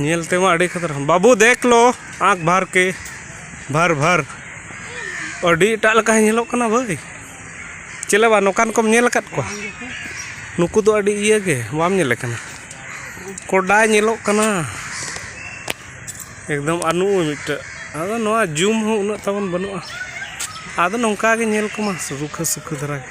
ᱧᱮᱞ ᱛᱮᱢᱟ ᱟᱹᱰᱤ ᱠᱷᱟᱛᱨᱟ ᱵᱟᱹᱵᱩ ᱫᱮᱠ ᱞᱳ ᱟᱸᱠ ᱵᱷᱟᱨ ᱠᱮ ᱵᱷᱟᱨ ᱵᱷᱟᱨ ᱟᱹᱰᱤ ᱮᱴᱟᱜ ᱞᱮᱠᱟᱭ ᱧᱮᱞᱚᱜ ᱠᱟᱱᱟ ᱵᱷᱟᱹᱭ ᱪᱮᱞᱮ ᱵᱟ ᱱᱚᱝᱠᱟᱱ ᱠᱚᱢ ᱧᱮᱞ ᱟᱠᱟᱫ ᱠᱚᱣᱟ ᱱᱩᱠᱩ ᱫᱚ ᱟᱹᱰᱤ ᱤᱭᱟᱹ ᱜᱮ ᱵᱟᱢ ᱧᱮᱞᱮ ᱠᱟᱱᱟ ᱠᱚᱰᱟᱭ ᱧᱮᱞᱚᱜ ᱠᱟᱱᱟ ᱮᱠᱫᱚᱢ ᱟᱨ ᱱᱩᱜᱼᱩᱭ ᱢᱤᱫᱴᱮᱡ ᱟᱫᱚ ᱱᱚᱣᱟ ᱡᱩᱢ ᱦᱚᱸ ᱩᱱᱟᱹᱜ ᱛᱟᱵᱚᱱ ᱵᱟᱹᱱᱩᱜᱼᱟ ᱟᱫᱚ ᱱᱚᱝᱠᱟ ᱜᱮ ᱧᱮᱞ ᱠᱚᱢᱟ ᱨᱩᱠᱷᱟᱹ ᱥᱩᱠᱷᱟᱹ ᱫᱷᱟᱨᱟ ᱜᱮ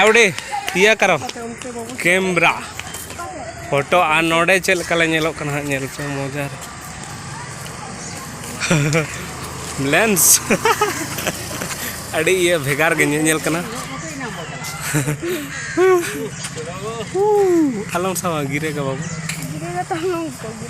आवड़े ᱤᱭᱟᱹ ᱠᱟᱨᱚ ᱠᱮᱢᱨᱟ ᱯᱷᱳᱴᱳ ᱟᱨ ᱱᱚᱰᱮ ᱪᱮᱫ ᱞᱮᱠᱟ ᱞᱮ ᱧᱮᱞᱚᱜ ᱠᱟᱱᱟ ᱦᱟᱸᱜ ᱧᱮᱞ ᱯᱮ ᱢᱚᱡᱟ ᱞᱮᱱᱥ ᱟᱹᱰᱤ ᱤᱭᱟᱹ ᱵᱷᱮᱜᱟᱨ ᱜᱮ ᱧᱮᱞ ᱧᱮᱞ ᱠᱟᱱᱟ ᱟᱞᱚᱢ ᱥᱟᱣᱟ ᱜᱤᱨᱟᱹ ᱜᱟ ᱵᱟᱵᱩ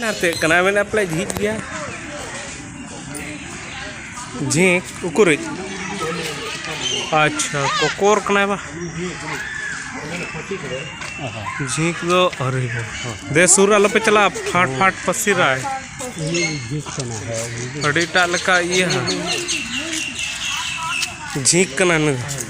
ᱱᱟᱛᱮ ᱠᱟᱱᱟ ᱢᱮᱱᱟ ᱯᱞᱮ ᱡᱷᱤᱡ ᱜᱮᱭᱟ ᱡᱷᱤᱡ ᱩᱠᱩᱨᱤᱡ ᱟᱪᱪᱷᱟ ᱠᱚᱠᱚᱨ ᱠᱟᱱᱟ ᱵᱟ ᱡᱷᱤᱡ ᱫᱚ ᱟᱨᱤ ᱫᱮ ᱥᱩᱨ ᱟᱞᱚ ᱯᱮ ᱪᱟᱞᱟᱜ ᱯᱷᱟᱴ ᱯᱷᱟᱴ ᱯᱟᱥᱤᱨᱟᱭ ᱟᱹᱰᱤ ᱴᱟᱜ ᱞᱮᱠᱟ ᱤᱭᱟᱹ ᱡᱷᱤᱡ ᱠᱟᱱᱟ ᱱᱩᱭ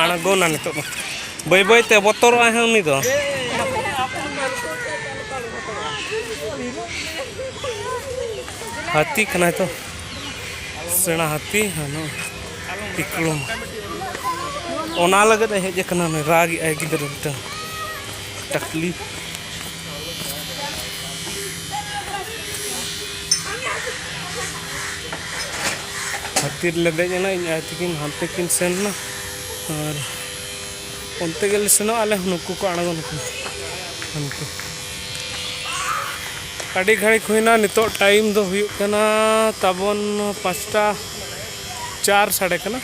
ᱟᱬᱜᱚᱱᱟ ᱱᱤᱛᱚᱜ ᱫᱚ ᱵᱟᱹᱭ ᱵᱟᱹᱭ ᱛᱮ ᱵᱚᱛᱚᱨᱚᱜ ᱟᱭ ᱩᱱᱤ ᱫᱚ ᱦᱟᱹᱛᱤ ᱠᱟᱱᱟᱭ ᱛᱚ ᱥᱮᱬᱟ ᱦᱟᱹᱛᱤ ᱦᱟᱱᱟ ᱛᱤᱠᱞᱩᱢ ᱚᱱᱟ ᱞᱟᱹᱜᱤᱫ ᱮ ᱦᱮᱡ ᱟᱠᱟᱱᱟ ᱨᱟᱜᱮᱜ ᱟᱭ ᱜᱤᱫᱽᱨᱟᱹ ᱢᱤᱫᱴᱟᱝ ᱴᱟᱠᱞᱤ ᱦᱟᱹᱛᱤ ᱨᱮᱞᱮ ᱫᱮᱡ ᱮᱱᱟ ᱤᱧ ᱟᱭᱳ ᱛᱟᱹᱠᱤᱱ ᱦᱟᱱᱛᱮ ᱠᱤᱱ ᱥᱮᱱ ᱮᱱᱟ ᱟᱨ ᱚᱱᱛᱮ ᱜᱮᱞᱮ ᱥᱮᱱᱚᱜᱼᱟ ᱟᱞᱮ ᱦᱚᱸ ᱱᱩᱠᱩ ᱠᱚ ᱟᱬᱜᱚᱱ ᱠᱟᱱᱟ ᱦᱟᱱᱛᱮ ᱟᱹᱰᱤ ᱜᱷᱟᱹᱲᱤᱠ ᱦᱩᱭᱱᱟ ᱱᱤᱛᱚᱜ ᱴᱟᱭᱤᱢ ᱫᱚ ᱦᱩᱭᱩᱜ ᱠᱟᱱᱟ ᱛᱟᱵᱚᱱ ᱯᱟᱸᱪᱴᱟ ᱪᱟᱨ ᱥᱟᱰᱮ ᱠᱟᱱᱟ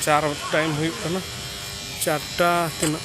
ᱪᱟᱨ ᱴᱟᱭᱤᱢ ᱦᱩᱭᱩᱜ ᱠᱟᱱᱟ ᱪᱟᱨᱴᱟ ᱛᱤᱱᱟᱹᱜ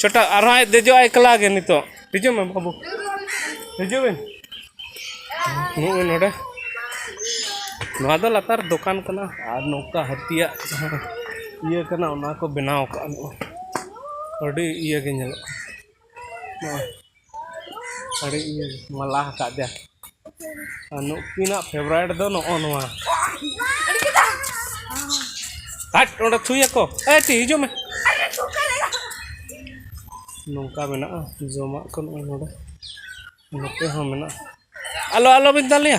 ᱪᱚᱴᱟ ᱟᱨᱦᱚᱸ ᱟᱡ ᱫᱮᱡᱚᱜᱼᱟ ᱮᱠᱞᱟ ᱜᱮ ᱱᱤᱛᱚᱜ ᱦᱤᱡᱩᱜ ᱢᱮ ᱵᱟᱹᱵᱩ ᱦᱤᱡᱩᱜ ᱵᱤᱱ ᱱᱩᱜ ᱢᱮ ᱱᱚᱰᱮ ᱱᱚᱣᱟ ᱫᱚ ᱞᱟᱛᱟᱨ ᱫᱚᱠᱟᱱ ᱠᱟᱱᱟ ᱟᱨ ᱱᱚᱝᱠᱟ ᱦᱟᱹᱛᱤᱭᱟᱜ ᱡᱟᱦᱟᱸ ᱤᱭᱟᱹ ᱠᱟᱱᱟ ᱚᱱᱟ ᱠᱚ ᱵᱮᱱᱟᱣ ᱠᱟᱜᱼᱟ ᱱᱚᱜᱼᱚᱭ ᱟᱹᱰᱤ ᱤᱭᱟᱹ ᱜᱮ ᱧᱮᱞᱚᱜ ᱠᱟᱱᱟ ᱱᱚᱜᱼᱚᱭ ᱟᱹᱰᱤ ᱤᱭᱟᱹ ᱢᱟᱞᱟ ᱟᱠᱟᱫᱮᱭᱟ ᱟᱨ ᱱᱩᱠᱤᱱᱟᱜ ᱯᱷᱮᱵᱽᱨᱟᱭᱤᱴ ᱫᱚ ᱱᱚᱜᱼᱚ ᱱᱚᱣᱟ ᱦᱟᱴ ᱚᱸᱰᱮ ᱛᱷᱩᱭᱟᱠᱚ ᱮ ᱴᱤ ᱦᱤᱡᱩᱜ ᱢᱮ ᱱᱚᱝᱠᱟ ᱢᱮᱱᱟᱜᱼᱟ ᱡᱚᱢᱟᱜ ᱠᱚ ᱱᱚᱜᱼᱚᱭ ᱱᱚᱰᱮ ᱱᱚᱛᱮ ᱦᱚᱸ ᱢᱮᱱᱟᱜᱼᱟ ᱟᱞᱚ ᱟᱞᱚ ᱵᱤᱱ ᱫᱟᱞᱮᱭᱟ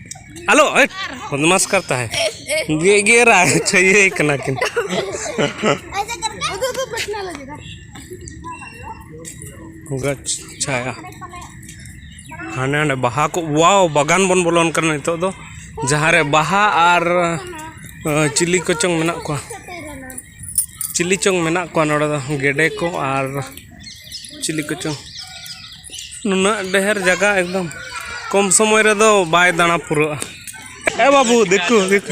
ᱟᱞᱚ ᱵᱚᱫᱢᱟᱥ ᱠᱟᱨ ᱛᱟᱦᱮᱸ ᱜᱮ ᱜᱮᱨᱟ ᱪᱷᱟᱹᱭᱟᱹᱭ ᱠᱟᱱᱟ ᱠᱤᱱ ᱜᱟᱪ ᱪᱷᱟᱭᱟ ᱦᱟᱸᱰᱮ ᱱᱟᱰᱮ ᱵᱟᱦᱟ ᱠᱚ ᱣᱟᱣ ᱵᱟᱜᱟᱱ ᱵᱚᱱ ᱵᱚᱞᱚᱱ ᱠᱟᱱᱟ ᱱᱤᱛᱚᱜ ᱫᱚ ᱡᱟᱦᱟᱸ ᱨᱮ ᱵᱟᱦᱟ ᱟᱨ ᱪᱤᱞᱤ ᱠᱚᱪᱚᱝ ᱢᱮᱱᱟᱜ ᱠᱚᱣᱟ ᱪᱤᱞᱤ ᱪᱚᱝ ᱢᱮᱱᱟᱜ ᱠᱚᱣᱟ ᱱᱚᱰᱮ ᱫᱚ ᱜᱮᱰᱮ ᱠᱚ ᱟᱨ ᱪᱤᱞᱤ ᱠᱚᱪᱚᱝ ᱱᱩᱱᱟᱹᱜ ᱰᱷᱮᱹᱨ ᱡᱟᱭᱜᱟ ᱮᱠᱫᱚᱢ ᱠᱚᱢ ᱥᱚᱢᱚᱭ ᱨᱮᱫᱚ ᱵᱟᱭ ᱫᱟᱬᱟ ᱯᱩᱨᱟᱹᱜᱼᱟ ᱮ ᱵᱟᱹᱵᱩ ᱫᱤᱠᱩ ᱫᱤᱠᱩ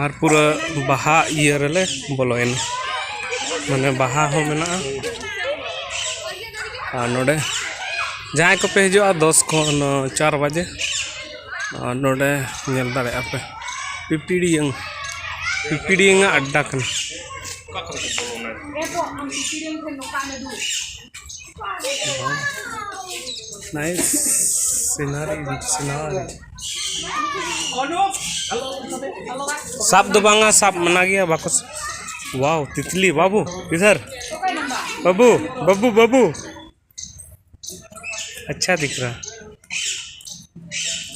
ᱟᱨ ᱯᱩᱨᱟᱹ ᱵᱟᱦᱟ ᱤᱭᱟᱹ ᱨᱮᱞᱮ ᱵᱚᱞᱚᱭᱮᱱᱟ ᱢᱟᱱᱮ ᱵᱟᱦᱟ ᱦᱚᱸ ᱢᱮᱱᱟᱜᱼᱟ ᱟᱨ ᱱᱚᱰᱮ ᱡᱟᱦᱟᱸᱭ ᱠᱚᱯᱮ ᱦᱤᱡᱩᱜᱼᱟ ᱫᱚᱥ ᱠᱷᱚᱱ ᱪᱟᱨ ᱵᱟᱡᱮ ᱟᱨ ᱱᱚᱰᱮ ᱧᱮᱞ ᱫᱟᱲᱮᱭᱟᱜᱼᱟ ᱯᱮ ᱯᱤᱯᱤᱲᱤᱭᱟᱹᱝ ᱯᱤᱯᱤᱲᱤᱭᱟᱹᱝ ᱟᱜ ᱟᱰᱰᱟ ᱠᱟᱱᱟ ᱱᱟᱭᱤᱥ ᱥᱤᱱᱟᱨᱤ ᱥᱤᱱᱟᱨᱤ ᱥᱟᱵ ᱫᱚ ᱵᱟᱝᱟ ᱥᱟᱵ ᱢᱟᱱᱟ ᱜᱮᱭᱟ ᱵᱟᱠᱚ ᱣᱟᱣ ᱛᱤᱛᱞᱤ ᱵᱟᱵᱩ ᱤᱫᱷᱟᱨ ᱵᱟᱵᱩ ᱵᱟᱵᱩ ᱵᱟᱵᱩ ᱟᱪᱪᱷᱟ ᱫᱤᱠᱨᱟ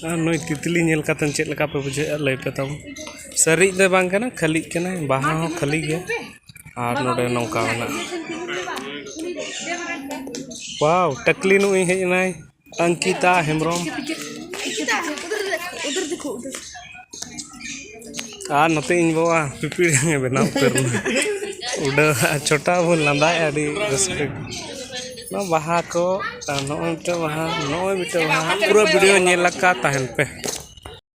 ᱟᱨ ᱱᱩᱭ ᱛᱤᱛᱞᱤ ᱧᱮᱞ ᱠᱟᱛᱮ ᱪᱮᱫ ᱞᱮᱠᱟ ᱯᱮ ᱵᱩᱡᱷᱟᱹᱣᱮᱫᱼᱟ ᱞᱟᱹᱭ ᱯᱮ ᱛᱟᱵᱚᱱ ᱥᱟᱹᱨᱤᱡ ᱫᱚ ᱵᱟᱝ ᱠᱟᱱᱟ ᱠᱷᱟᱹᱞᱤᱜ ᱠᱟᱱᱟ ᱵᱟᱦᱟ ᱦᱚᱸ ᱠᱷᱟᱹᱞᱤ ᱜᱮᱭᱟ ᱟᱨ ᱱᱚᱰᱮ ᱱᱚᱝᱠᱟ ᱢᱮᱱᱟᱜᱼᱟ ᱣᱟᱣ ᱴᱟᱠᱞᱤ ᱱᱩᱭ ᱦᱮᱡ ᱮᱱᱟᱭ ᱚᱝᱠᱤᱛᱟ ᱦᱮᱢᱵᱨᱚᱢ ᱟᱨ ᱱᱚᱛᱮ ᱤᱧ ᱵᱟᱵᱟ ᱯᱤᱯᱤᱲ ᱡᱟᱝ ᱮ ᱵᱮᱱᱟᱣ ᱩᱛᱟᱹᱨ ᱮᱱᱟ ᱩᱰᱟᱹᱣ ᱪᱷᱚᱴᱟ ᱵᱚᱱ ᱞᱟᱸᱫᱟᱭᱮᱫᱼᱟ ᱟᱹᱰᱤ ᱨᱟᱹᱥᱠᱟᱹ ᱱᱚᱣᱟ ᱵᱟᱦᱟ ᱠᱚ ᱟᱨ ᱱᱚᱜᱼᱚᱭ ᱢᱤᱫᱴᱮᱱ ᱵᱟᱦᱟ ᱱᱚᱜᱼᱚᱭ ᱢᱤᱫᱴᱮᱱ ᱵᱟᱦᱟ ᱯᱩᱨᱟᱹ ᱵᱷᱤᱰᱤᱭᱳ ᱧᱮᱞ ᱟᱠᱟᱫ ᱛᱟᱦᱮᱱ ᱯᱮ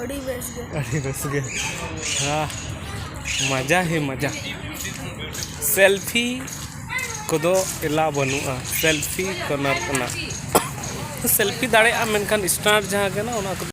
ᱟᱹᱰᱤ ᱵᱮᱥ ᱜᱮ ᱟᱹᱰᱤ ᱵᱮᱥ ᱜᱮ ᱦᱟᱸ ᱢᱟᱡᱟ ᱦᱮ ᱢᱟᱡᱟ ᱥᱮᱞᱯᱷᱤ ᱠᱚᱫᱚ ᱮᱞᱟ ᱵᱟᱹᱱᱩᱜᱼᱟ ᱥᱮᱞᱯᱷᱤ ᱠᱚᱨᱱᱟᱨ ᱠᱟᱱᱟ ᱥᱮᱞᱯᱷᱤ ᱫᱟᱲᱮᱭᱟᱜᱼᱟ ᱢᱮᱱᱠᱷᱟᱱ ᱥᱴᱟᱨ ᱡᱟᱦᱟᱸ ᱠᱟᱱᱟ ᱚᱱᱟ ᱠᱚᱫᱚ